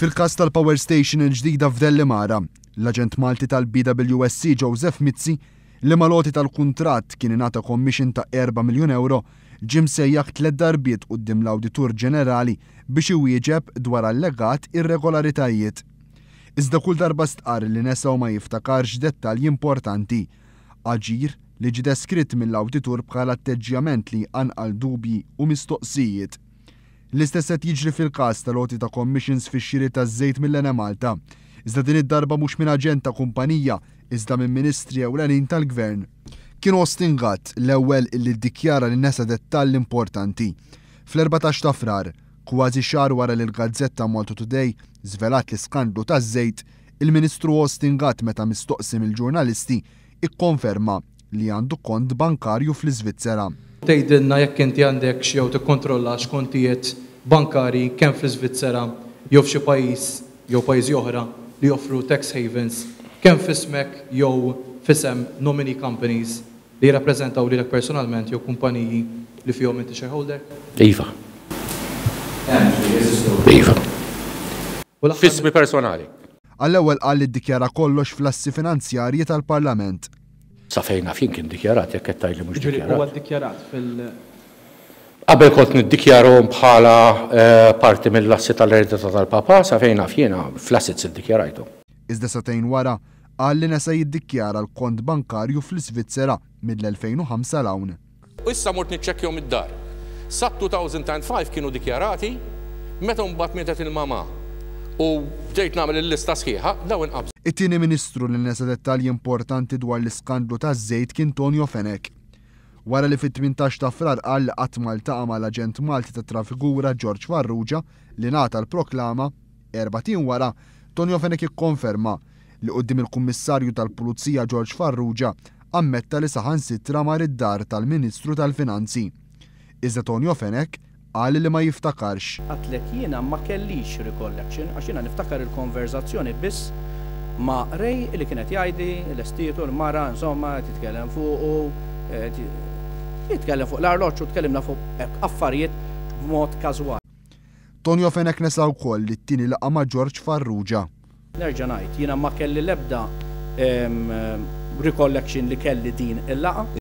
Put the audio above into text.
Fil-każ tal-power station il-ġdida f'Dellimara, l-aġent Malti tal-BWSC Joseph Mizzi, li mal-għoti tal-kuntratt kien ingħata commission ta' erba' miljun ewro, ġie msejjaħ tliet darbiet quddiem l-Awditur Ġenerali biex iwieġeb dwar allegat irregolaritajiet. Iżda kull darba stqarr li nesa u ma jiftakarx dettalji importanti. Aġir li ġie deskritt mill-Awditur bħala atteġġjament li jqanqal dubji u mistoqsijiet. L-istess qed jiġri fil-każ tal-għoti ta' commissions fix-xiri taż-żejt mill-Enemalta, iżda din id-darba mhux minn aġent ta' kumpanija iżda minn ministri ewlenin tal-Gvern. Kien Austin Gatt l-ewwel li ddikjara li nesa dettall importanti. Fl-erbatax ta' Frar, kważi xahar wara li l-gazzetta Malta Today żvelat l-iskandlu taż-żejt, il-Ministru Austin Gatt meta mistoqsi mill-ġurnalisti Ikkonferma li għandu kont bankarju fl-Iżvizzera. Tgħidilna jekk inti għandekx jew tikkontrollax kontijiet bankarji kemm fl-Iżvizzera jew f'xi pajjiż jew pajjiżi oħra li joffru tax havens, kemm f'ismek jew f'isem nominee companies li jirrappreżentaw lilek personalment jew kumpaniji li fihom inti shareholder. Iva. Hemm, ġifieri jeżistu. Iva. F'ismi personali. Għall-ewwel qal li ddikjara kollox fl-assi finanzjarji tal-Parlament. Sa fejn naf jien kien dikjarat, jekk qed tgħid li mhux dikjarat. Jiġifieri huwa ddikjarat fil. Qabel kont niddikjarahom bħala parti mill-assi tal-eredità tal-Papa, sa fejn naf jiena, fl-assets iddikjarajthom. Iżda sagħtejn wara, qal li nesa jiddikjara l-kont bankarju fl-Isvizzera mill-2005 'l hawn. U issa mort niċċekkjahom id-dar. Sat-2005 kienu dikjarati, meta mbagħad mietet il-mamà u bdejt nagħmel il-lista sħiħa, dawn inqabżu. It-tieni Ministru li nesa dettalji importanti dwar l-iskandlu taż-żejt kien Tonio Fenech. Wara li fit-tmintax ta' Frar qal li qatt ma ltaqa' mal-aġent Malti tat-traffikura George Farrugia li ngħata l-proklama, erbat ijiem wara, Tonio Fenech ikkonferma, li quddiem il-Kummissarju tal-Pulizija George Farrugia ammetta li saħansitra mar id-dar tal-Ministru tal-Finanzi. Iżda Tonio Fenech qal li ma jiftakarx. Għidtlek jiena ma kellix recollection għax jiena niftakar il-konverżazzjoni biss ma' Ray li kien qed jgħidli lestietu l-mara insomma qed jitkellem fuqu qed jitkellem fuq l-arloġġ u tkellimna fuq hekk affarijiet b'mod każwali. Tonio Fenech nesa wkoll it-tieni laqgħa ma' George Farrugia. Nerġa' ngħid, jiena ma kelli l-ebda recollection li kelli din il-laqgħa.